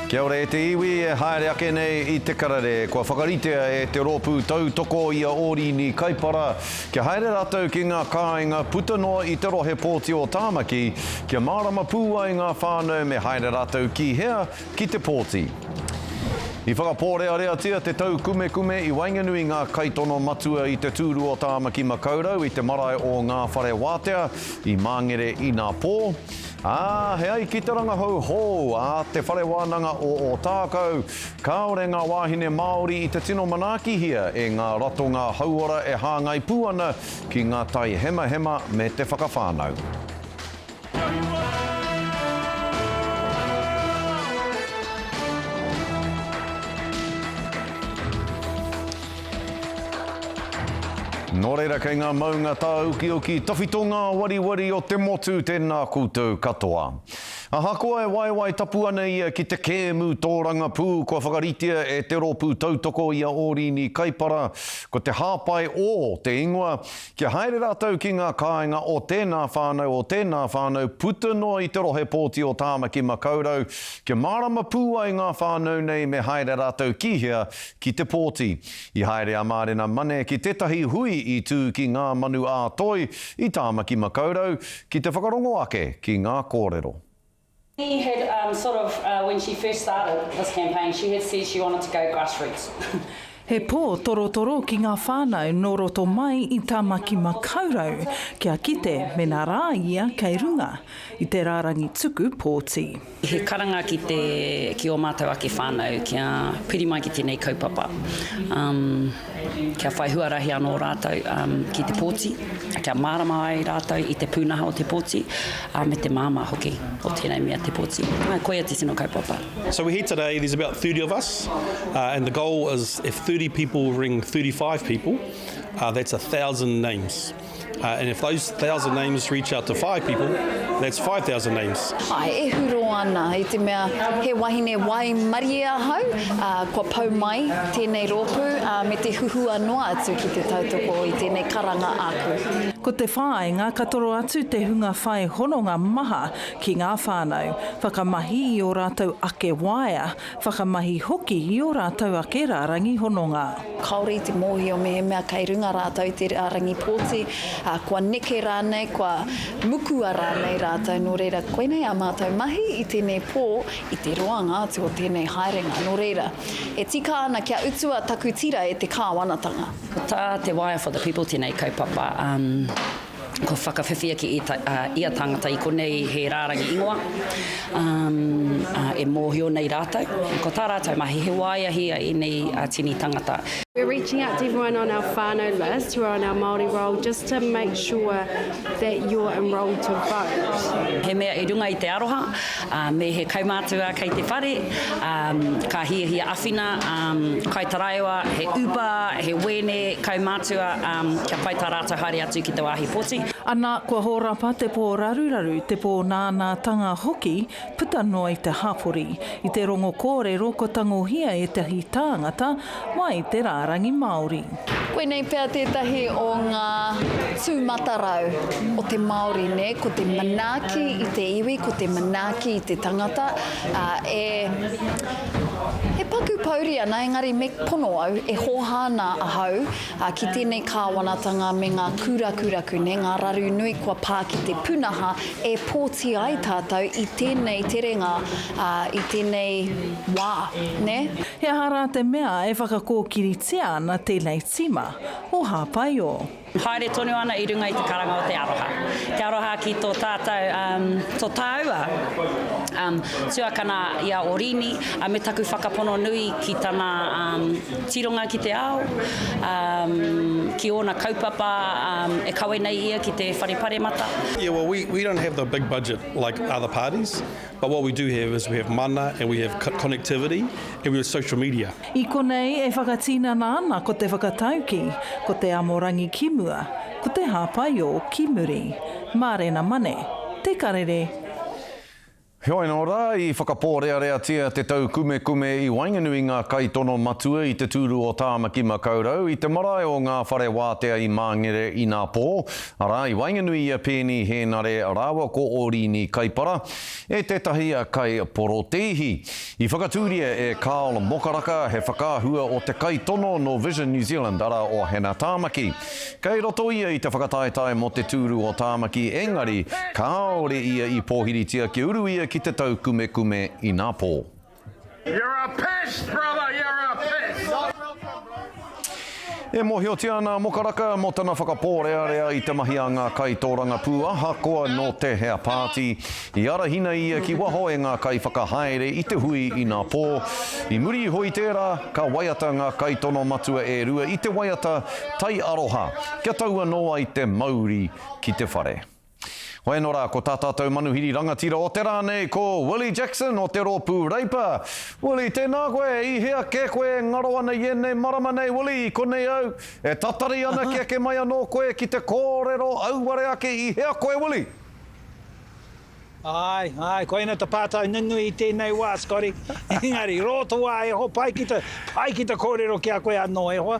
Kia ora e te iwi e haere ake nei i te karere. Kua whakaritea e te rōpū tautoko i a Ōrini Kaipara kia haere rātou ki ngā kāinga puta noa i te rohe pōti o Tāmaki kia mārama pū ai ngā whānau me haere rātou ki hea ki te pōti. I whakapōreareatia te taukumekume i waenganui ngā kaitono matua i te tūru o Tāmaki Makaurau i te marae o Ngā Whare Wātea i Māngere inapō, Ā, he ai ki te rangahau hou a Te Whare Wānanga o Ōtākou, kāore ngā wāhine Māori i te tino manaakihia e ngā ratonga hauora e hāngai pū ana ki ngā tai hemahema me te whakawhānau. Nō reira kei ngā maunga tāukiuki tawhito ngā wariwari o te motu tēnā koutou katoa. Ahakoa e waewae tapu ana ia ki te kēmu tōrangapū kua whakaritea e te rōpū tautoko i a Ōrīni Kaipara, ko te hāpai ō te ingoa, kia haere rātou ki ngā kāinga o tēnā whānau o tēnā whānau puta noa i te rohe pōti o Tāmaki-makau-rau, kia mārama pū ai ngā whānau nei me haere rātou ki hea, Ki te pōti, i haere a Mārena Mane ki tētahi hui i tū ki Ngā Manu ā-Toi i Tāmaki Makaurau ki te whakarongo ake ki ngā kōrero. She had sort of when she first started this campaign she had said she wanted to go grassroots. He pō torotoro ki ngā whānau nō roto mai i Tāmaki Makaurau kia kite mēnā rā ia kei runga i te rārangi tuku pōti. He karanga ki te, ki o mātou ake whānau, kia piri mai ki tēnei kaupapa. Um, kia whai huarahi anō rātou um, ki te pōti, kia mārama ai rātou i te pūnaha o te pōti, uh, me te māmā hoki o tēnei mea te pōti. Uh, koia te tino kaupapa. So we're here today, there's about 30 of us, uh, and the goal is if 30 people ring 35 people, uh, that's a thousand names. Uh, and if those thousand names reach out to five people, that's 5,000 names. Ai, e huro ana, i te mea he wahine wai marie ahau, uh, kua pau mai tēnei rōpū uh, me te huhua noa atu ki te tautoko i tēnei karanga aku. Ko te whāinga ka toro atu te hunga whai hononga maha ki ngā whānau, whakamahi i ō rātou ake waea, Whakamahi hoki i ō rātou ake rārangi hononga. Kāore i te mōhio mehemea kei runga rātou i te rārangi pōti, ā, kua neke rānei, kua mukua rānei rātou, nō reira, koinei ā mātou mahi i tēnei pō, i te roanga atu o tēnei haerenga. Nō reira, e tika ana kia utua taku tira e te Kāwanatanga. Ko tā te Wire for the People tēnei kaupapa. Kua whakawhiwhia ki ia tāngata i konei he rārangi ingoa e mōhio nei rātou. Ko tā rātou mahi, he waeahi a ēnei tini tangata. We're reaching out to everyone on our whānau list who are on our Māori roll just to make sure that you're enrolled to vote. He mea i runga i te aroha. Me he kaumātua kei te whare, ka hiahia awhina, kai taraiwa, he upa, he wēne, kaumātua, kia pai tā rātou haere atu ki te wāhi poti. Ana, kua hōrapa te pō raruraru, te pō nānātanga hoki, puta noa i te hapori. I te rongo kōrero kua tangohia ētahi tāngata, Mai te rārangi Māori. Koinei pea tētahi o ngā tūmatarau o te Māori, nē, ko te manaaki i te iwi, ko te manaaki i te tangata, ā, e, e paku pouri ana, engari me pono au, e hōhā ana ahau ki tēnei kāwanatanga me ngā kūrakuraku, nē, ngā raru nui kua pā ki te pūnaha e pōti ai tātou i tēnei terenga, ā, i tēnei wā, nē. He aha rā te mea e whakakōkiritia ana tēnei tīma o Hāpaio? Haere tonu ana i runga i te karanga o te aroha. Te aroha ki tō tātou, tō tāua tuakana i a Orīni, me taku whakapono nui ki tana tironga ki te ao, ki ōna kaupapa e kawe nei ia ki te Whare Paremata. Yeah well we don't have the big budget like other parties But what we do have is we have mana and we have connectivity and we have social media. I konei e whakatinana ana ko te whakatauki, ko te amorangi ki mua, ko te hāpaiō ki muri. Mārena Mane, Te Karere. Heoi anō rā, i whakapōreareatia te tau kumekume i waenganui i ngā kaitono matua i te tūru o Tāmaki Makaurau i te marae o Ngā Whare Wātea i Māngere inā pō, Arā, i waenganui i a Pēni Hēnare rāua ko Ōrīni Kaipara e tētahi kai porotēihi. I whakatūria e Carl Mokaraka, he whakaahua o te kaitono nō Vision New Zealand, arā, o Hana Tāmaki. Kei roto ia i te whakataetae mō te tūru o Tāmaki, engari kāore ia i pōhiritia kia uru ia ki te taukumekume inapō. You're a pest, brother, you're a pest! E mōhiotia ana a Mokaraka mō tana whakapōrearea i te mahi a ngā kaitōrangapū ahakoa nō te hea pāti. I arahina ia ki waho e ngā kaiwhakahaere i te hui inā pō. I muri iho i tērā, ka waiata ngā kaitono matua e rua i te waiata Tai Aroha kia tau anō ai te mauri ki te whare. Hoi anō rā, ko tā tātou manuhiri rangatira o te rā nei ko Willie Jackson o te rōpū Reipa. Willie, tēnā koe, i hea kē koe e ngaro ana i ēnei marama nei, Willie, i konei au, e tatari ana kia eke mai anō koe ki te kōrero auare ake, i hea koe, Willie? Āe, āe, koina te pātai nunui i tēnei wā, Scotty, engari, rō te wā e ho pai ki te, pai ki te kōrero ki a koe anō e hoa,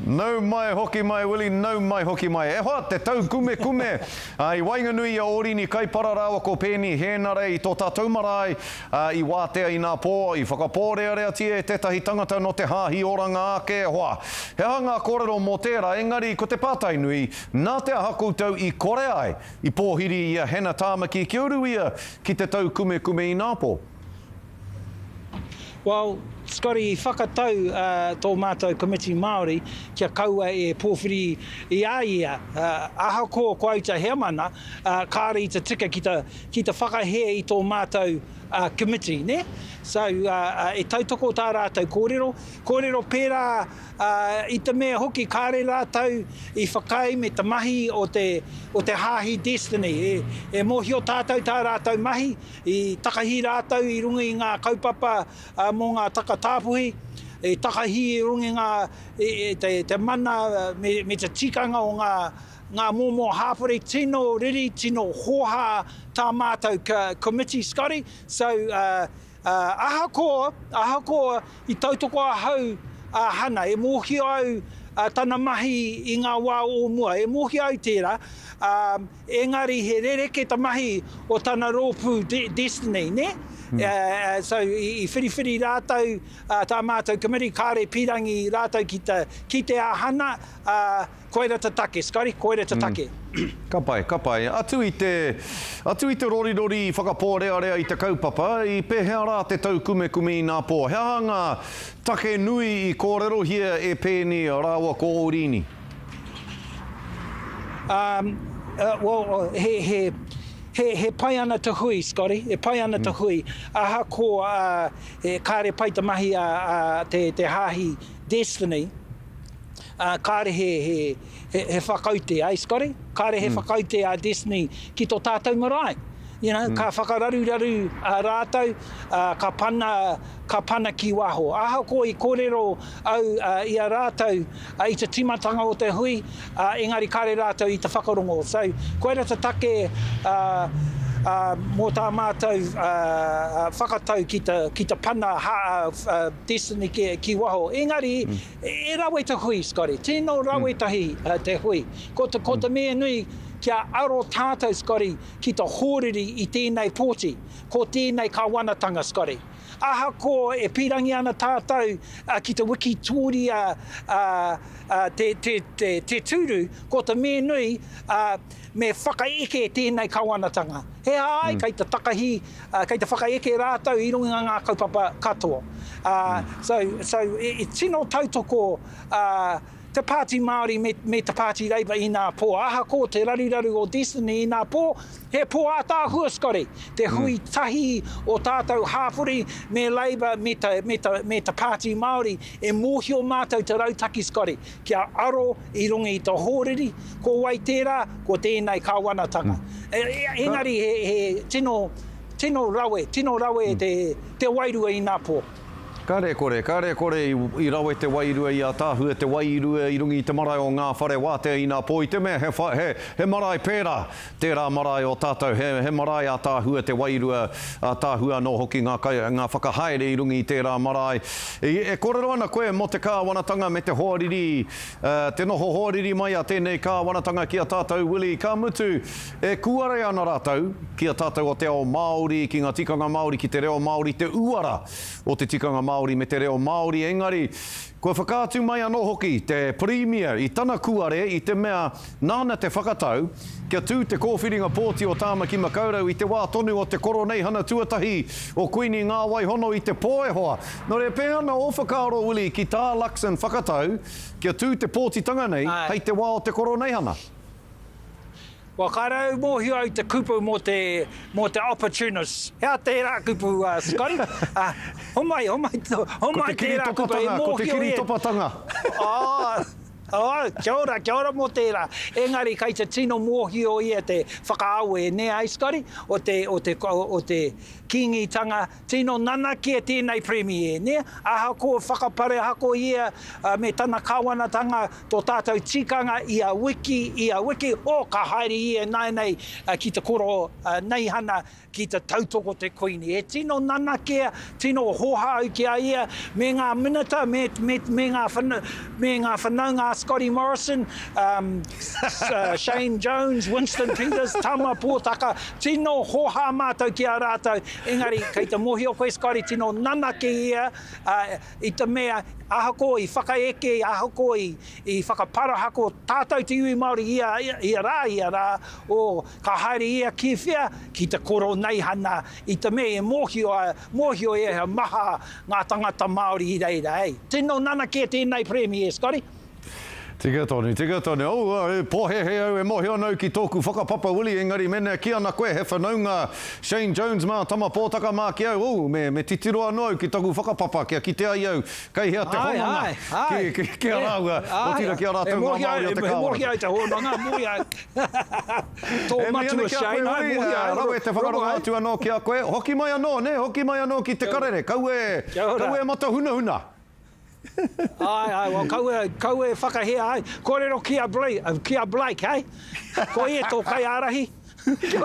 Nau mai hoki mai Willie, nau mai hoki mai. E hoa, te tau kumekume, ā, i waenganui i a Orini Kaipara rāua ko Peeni Hēnare i tō tātou marae, ā, i wātea i nā pō, i whakapōreareatia e tētahi tangata nō te Hāhi Oranga ake, e hoa. He aha ngā kōrero mō tērā, engari ko te pātai nui, nā te aha koutou i kore ai, i pōhiri i a Hena Tāmaki kia uru ia ki te tau kumekume i nā pō? Well, Scotty, i whakatau tō mātou Komiti Māori kia kaua e pōwhiri i a ia. Ahakoa ko au te heamana, kāore i te tika ki te whakahē i tō mātou Komiti, nē? So, e tautoko tā rātou kōrero, kōrero pērā i te mea hoki kāore rātou i whakaae me te mahi o te Hāhi Destiny, e mōhio tātou tā rātou mahi, I takahi rātou i runga i ngā kaupapa mō ngā taka tāpuhi, i takahi i runga i ngā, i te mana me te tikanga o ngā momo hāpori tino riri, tino hōhā tā mātou Committee, Scotty. So, ahakoa, ahakoa i tautoko ahau a Hana, e mōhio au tana mahi i ngā wā o mua, e mōhio au tērā, ā, Engari he rereke ta mahi o tana ropu Destiny ne? So i whiriwhiri ratou ta matou committee kare pirangi ratou ki ta kite a Hana a koira ta take Scotty koira ta take. Ka pai, ka pai. Atu i te, atu i te rorirori i whakapōrearea i te kaupapa, i pēhea rā te taukumekume inapō? He aha ngā take nui i kōrerohia e Peeni rāua ko Ōrīni? Um, uh, well, uh, he, he, he, he pai ana te hui, Scotty, e pai ana mm. te hmm. hui. Aha ko, uh, e, kāre pai te mahi a, a te, te hāhi Destiny, uh, kāre he, he, he, he whakaute, ai, Scotty? Kāre he mm. whakaute a Destiny ki to tātou marae. You know, mm. ka whakararuraru a uh, rātou, uh, ka, pana, ka pana ki waho. Aha ko i kōrero au uh, i a rātou, I te timatanga o te hui, engari kare rātou i te whakarongo. So, koira te take mō tā mātou whakatau ki te pana Destiny ki waho. Engari, e rawe te hui, Scotty. Tino rawe tahi te hui. Ko te mea nui, kia aro tātou, Scotty, ki te hōriri i tēnei pōti, ko tēnei Kawanatanga, Scotty. Ahakoa e pīrangi ana tātou ki te wikitōria te tūru, ko te mea nui me whakaeke tēnei kawanatanga. He aha ai, kei te takahi, kei te whakaeke rātou i runga i ngā kaupapa katoa. So, tino tautoko. te Pāti Māori me, me te Pāti Labour inā pō. Ahakoa te raruraru o Destiny inā pō, he pō ātaahua skare, te hui mm. tahi o tātou hāpori me Labour me ta, me ta, me ta Pāti Māori e mōhio mātou te rautaki skare kia aro i runga i ta hōriri, ko wai tērā, ko tēnei kāwanatanga. Mm. E, e, engari he, he tino, tino rawe, tino rawe mm. te, te wairua inā pō. Karekore, karekore, i rawe te wairua i ataahue te wai i rua i runga i te marae o nga whare watea ina po i te mea he wha, he, he marae pera tera marae o tatou, he, he marae ataahue te wairua, ataahue ano hoki nga kai, nga whakahaere i runga i tera marae. I, e korero ana koe mo te kawanatanga me te hoariri, eh, te noho hoariri mai a tenei kawanatanga ki a tatou Willie, ka mutu, E kūare ana rātou ki a tātou o te ao Māori, ki ngā tikanga Māori, ki te reo Māori, te uara o te tikanga Māori me te reo Māori, engari kua whakaatu mai anō hoki te Pirimia i tana kūare i te mea nāna te whakatau kia tū te kōwhiringa pōti o Tāmaki Makaurau i te wā tonu o te Koroneihana Tuatahi o Kuini Ngāwaihono i te pō e hoa. Nō reira, pēhea ana ō whakaaro, Willie, ki tā Luxon whakatau kia tū te pōtitanga nei hei te wā o te Koroneihana? Kua kaore au mōhio au te kupu mō te, mō te opportunists. Hea tērā kupu, uh, Scotty? Uh, homai, homai, homai tērā kupu. E mōhio e... Ko te kiri topatanga, ko te kiri topatanga. Oh, oh, kia ora, kia ora mō tērā. Engari kei te tino mōhio ia te whakaawe, nē ai, Scotty? O te, o te, o te Kīngitanga, Tino nanakia tēnei Premier, nē? Ahakoa whakaparehakohia me tana kawanatanga tō tātou tikanga ia wiki, ia wiki, o, ka haere ia ināianei ki te koro neihana ki te tautoko te Kuini. E tino nanakia, tino hohāu ki a ia, me ngā minita, me, me, me, ngā, whana, me ngā whanaunga a Scotty Morrison, um, Shane Jones, Winston Peters, Tama Pōtaka, tino hohā mātou ki a rātou Engari, kei te mohio koe Scotty tino nanaki ia i te mea ahakoa i whakaeke, ahakoa i whakaparahako tātou te iwi Māori ia rā, ia rā, o ka haere ia ki whea, ki te koroneihana i te mea e mōhio ia he maha ngā tangata Māori i reira, hei. Tino nanaki e tēnei Premier, Scotty. Tika tonu, tika tonu. Oh, oh, e pohehe au, e mohio ana au ki toku whakapapa Willie, engari menea ki ana koe he whanaunga Shane Jones ma Tama Potaka ma ki au, oh, me, me titiro ano au ki taku whakapapa kia kite ai au kei hea te hononga ki, ki, ki a raua, otira ki a ratou nga Maori o te Kawana. He mohi ai te hononga, mohi ai. To matua Shane, ai mohi ai. Rawe te whakarongo atu ano ki a koe. Hoki mai ano, ne, hoki mai ano ki te karere. Kau e, kau e matahunahuna. Ae, ae, wa kau e, kau e whakahea ai. Korero ki a Blake, uh, ki a Blake, hei? Koi e tō kai ārahi.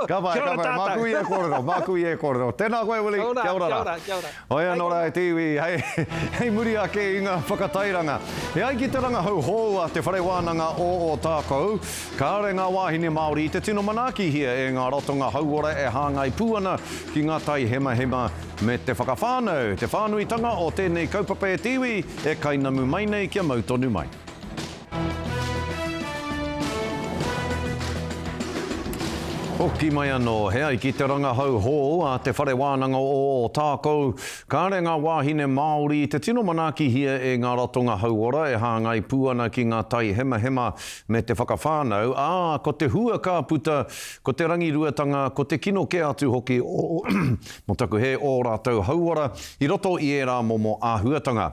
Ka pai, ka pai. Māku i e kōrero, māku i e kōrero. Tēnā koe, Willie. Kia ora, kia ora, kia ora. Hoi anō rā e te iwi, hei, hei muri ake i ngā whakatairanga. E ai ki te rangahau hou a Te Whare Wānanga o Ōtākou, kāore ngā wāhine Māori i te tino manaakihia e ngā ratonga hauora e hāngai pū ana ki ngā tai hemahema me te whakawhānau, te whānuitanga o tēnei kaupapa e te iwi, e kainamu mai nei kia mau tonu mai. Hoki mai anō, he ai ki te rangahau hou a Te Whare Wānanga o Ōtākou, kāre ngā wāhine Māori i te tino manaakihia e ngā ratonga hauora e hāngai pū ana ki ngā tai hemahema me te whakawhānau, ā, ko te hua ka puta, ko te rangiruatanga, ko te kino kē atu hoki o Mō taku hē ō rātou hauora i roto i ērā momo āhuatanga.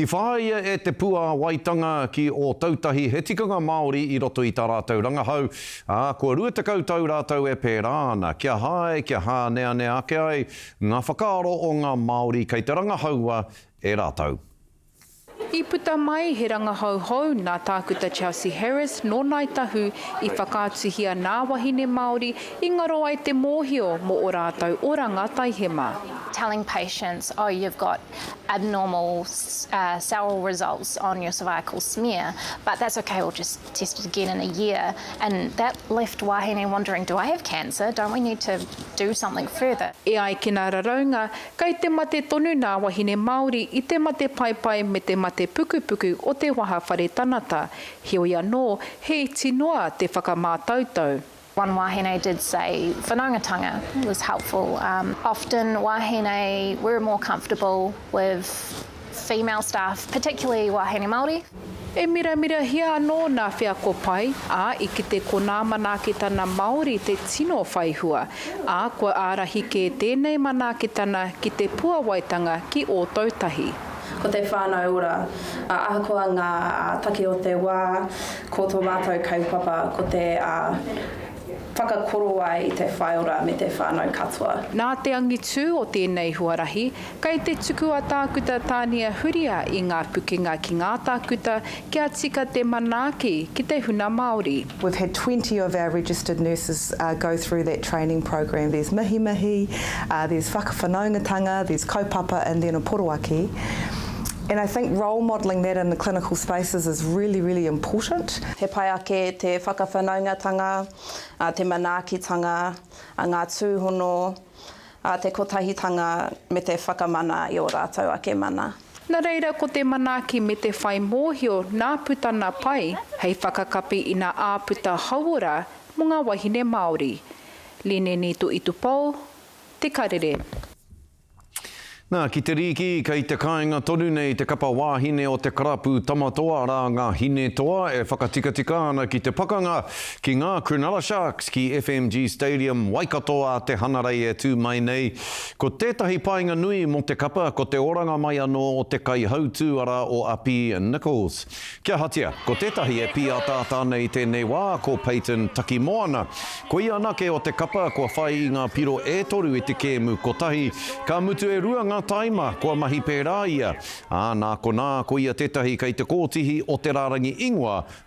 I whāia e te puāwaitanga ki Ōtautahi he tikanga Māori i roto i tā rātou rangahau, ā, kua 20 tau rātou e pērā ana, kia hae, kia hāneanea ake ai ngā whakaaro o ngā Māori kei te rangahaua e rātou. I puta mai he rangahau hou nā Tākuta Chelsea Harris nō Ngāi Tahu i whakaatuhia nā wahine Māori i ngaro ai te mōhio mō ō rātou oranga taihema. telling patients oh you've got abnormal cell results on your cervical smear but that's ok we'll just test it again in a year and that left wahine wondering do I have cancer, don't we need to do something further. E ai ki ngā raraunga, Kei te mate tonu nā wahine Māori i te mate paepae me te mate pukupuku o te waha whare tanata, heoi anō, he iti noa te whakamātautau. One wahine did say whanaungatanga was helpful, often wahine were more comfortable with female staff, particularly wāhine Māori. E miramirahia anō nā wheako pai, ā, i kite ko nā manaakitana Māori te tino whai hua, ā, kua ārahi kē tēnei manaakitana ki te puawaitanga ki Ōtautahi. Ko te whānau ora, ā, ahakoa ngā take o te wā, ko tō mātou kaupapa ko te whakakorowai i te whaiora me te whānau katoa. Nā te angitū o tēnei huarahi, Kei te tuku a Tākuta Tānia Huria i ngā pukenga ki ngā tākuta kia tika te manaaki ki te huna Māori. We've had twenty of our registered nurses go through that training program. There's mihimihi, there's whakawhanaungatanga, there's kaupapa and then a poroaki. And I think role modelling that in the clinical spaces is really, really important. He pai ake te whakawhanaungatanga, te manaakitanga, ngā tūhono. A te kotahitanga me te whakamana i o ratou ake mana. Na reira ko te manaaki me te whai mohio na putana pai hei whakakapi i na aaputa hauora mo nga wahine Maori. Lineni Tuitupou, Te Karere. Na, ki te rīki, kei te kāinga tonu nei te kapa wāhine o te karapu Tamatoa rā ngā Hinetoa e whakatikatika ana ki te pakanga, Ki ngā Cronulla Sharks, ki FMG Stadium, Waikato ā te hanarei e tū mai nei. Ko tētahi painga nui mō te kapa ko te oranga mai anō o te kaihautū arā o Api Nichols. Ki ahatia, ko tētahi e pīataata ana i tēnei wā ko Payton Takimoana. Ko ia anake o te kapa kua whai i ngā piro e toru i te kēmu kotahi, ka mutu e rua ngā taima kua mahi pērā ia, ā, nā konā ko ia tētahi kei te kōtihi o te rārangi ingoa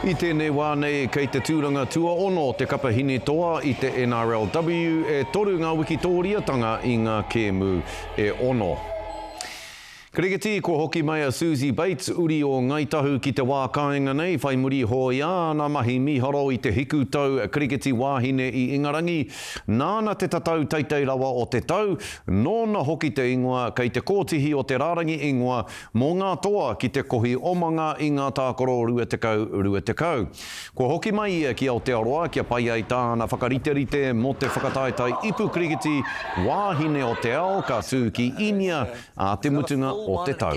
I tēnei wā nei, kei te tūranga tuaono te kapa hinitoa i te NRLW, e toru ngā wikitōriatanga i ngā kēmu e ono. Kirikiti, kua hoki mai a Suzie Bates, uri o Ngāi Tahu ki te wā kāinga nei, whai muri hōia āna mahi mīharo i te hiku tau Kirikiti Wāhine i Ingarangi. Nāna te tatau teitei rawa o te tau, nōna hoki te ingoa kei te kōtihi o te rārangi ingoa Mō ngā toa ki te kohi omanga i ngā tākaro rua tekau, rua tekau. Kua hoki mai ia ki Aotearoa kia pai ai tāna whakariterite mō te whakataetae ipu kirikiti wāhine o te ao ka tū ki Īnia ā te mutunga o te tau.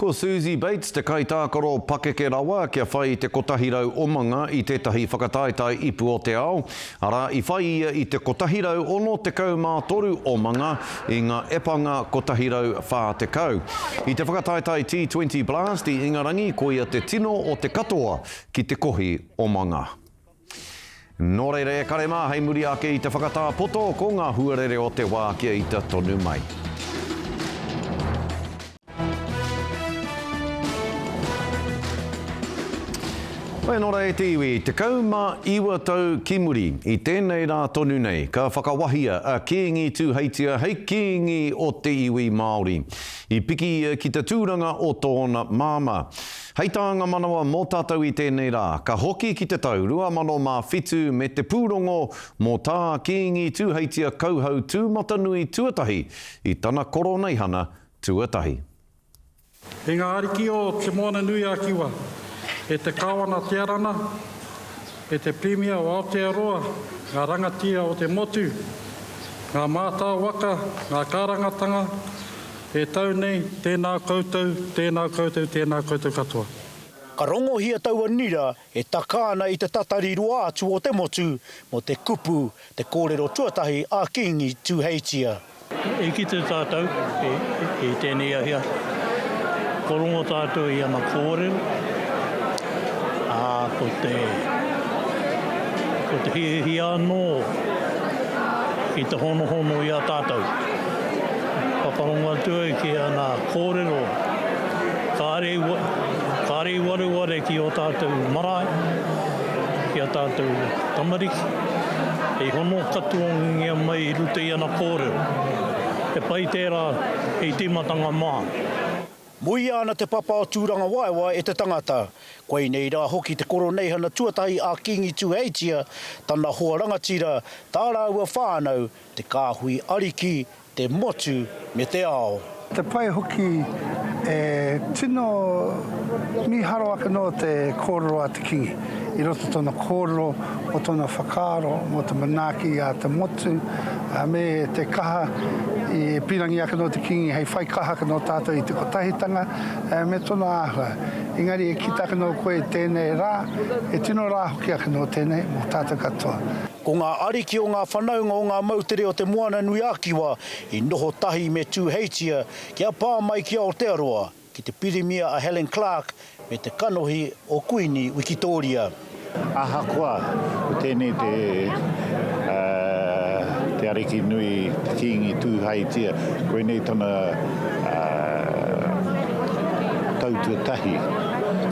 Ko Susie Bates te kaitākaro pakeke rawa kia whai i te 100 omanga i tētahi whakataetae ipu o te ao, arā, i whai ia i te 163 omanga i ngā epanga 140. I te whakataetae T20 Blast i Ingarangi koia te tino o te katoa ki te kohi omanga. Nō reira e kare mā hei muri ake i te whakatā poto ko ngā huarere o te wā kia ita tonu mai. Whai nō rei te iwi, 19 tau ki muri, i tēnei rā tonu nei, ka whakawahia a Kīngi Tūheitia hei kīngi o te iwi Māori. I piki ia ki te tūranga o tōna māmā. Hei tā ngā manawa mō tātou i tēnei rā, ka hoki ki te tau 2007 me te pūrongo mō tā Kīngi Tūheitia kauhau tūmatanui tuatahi i tana koroneihana tuatahi. E ngā ariki o Te Moana-nui-a-Kiwa, e te Kāwana Te Arana, e te Pirimia o Aotearoa, ngā rangatira o te motu, ngā mātao waka, ngā kārangatanga, E tau nei, tēnā koutou, tēnā koutou, tēnā koutou katoa. Ka rongohia taua nira e taka ana i te tatari roa atu o te motu mō te kupu Te Kōrero Tuatahi a Kīngi Tūheitia. I kite tātou i tēnei ahiahi, kua rongo tātou i ana kōrero, ā, ko te, ko te hiahia anō ki te honohono i a tātou. Whakarongo atu au ki ana kōrero, kāre i, kāre i wareware ki ō tātou marae, ki ā tātou tamariki, hei hono katoangia mai i roto i ana kōrero. He pai tērā hei tīmatanga mā. Muia ana te papa o Tūrangawaewae e te tangata. Koinei rā hoki te Koroneihana tuatahi a Kīngi Tuheitia, tana hoa rangatira, tā rāua whānau, Te Kāhui Ariki, te motu me te ao. Te pai hoki e tino mīharo ake noa te kōrero a te Kingi i roto tōna kōrero mō tōna whakaaro mō te manaaki a te motu me te kaha i pīrangi ake noa te Kingi hei whai kaha ake noa tātou i te kotahitanga me tōna āhua. Engari e kita ake noa koe i tēnei rā, e tino rā hoki ake noa tēnei mō tātou katoa. Ko ngā ariki o ngā whanaunga o ngā moutere o Te Moananui-a-Kiwa i noho tahi me Tūheitia kia pā mai ki Aotearoa, ki te Pirimia a Helen Clark me te kanohi o Kuini Wikitōria. Ahakoa ko tēnei te Te Ariki Nui, te Kīngi Tūheitia, koinei tana tau tuatahi,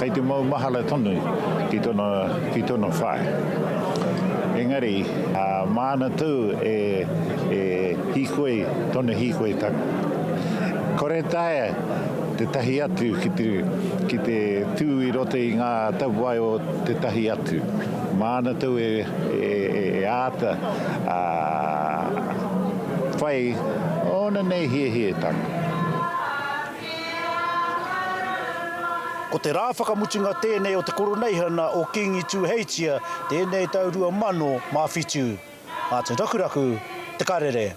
kei te maumahara tonu ki tona whare. Engari, māna tū e hīkoi tonu hīkoi taku. Kore taea tētahi atu ki te tū i roto i ngā tapuwae o tētahi atu. Māna tū e āta whai ōna nei hiahia taku. Ko te rā whakamutunga tēnei o te Koroneihana o Kīngi Tūheitia tēnei tau 2007. Mā te rakuraku Te Karere.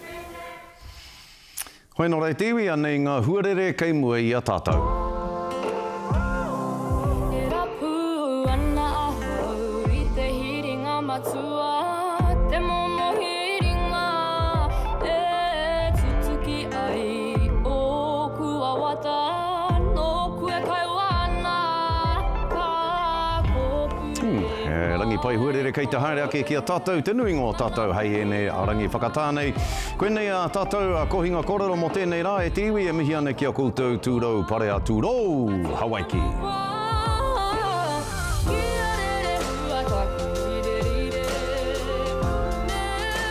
Hoi nō reiti iwi anei ngā huarere kei mua i a tātou. Ai ōku wawata nōku e kaua ana ka kōpū e whai. Ooh, he rangi pai huarere kei te haere ake ki a tatou te nuinga o tatou hei enei rangi whakatā nei. Koinei a tatou a Kohinga Korero mo tenei ra e te iwi e mihi ana ki a koutou turou pare a turou Hawaiki.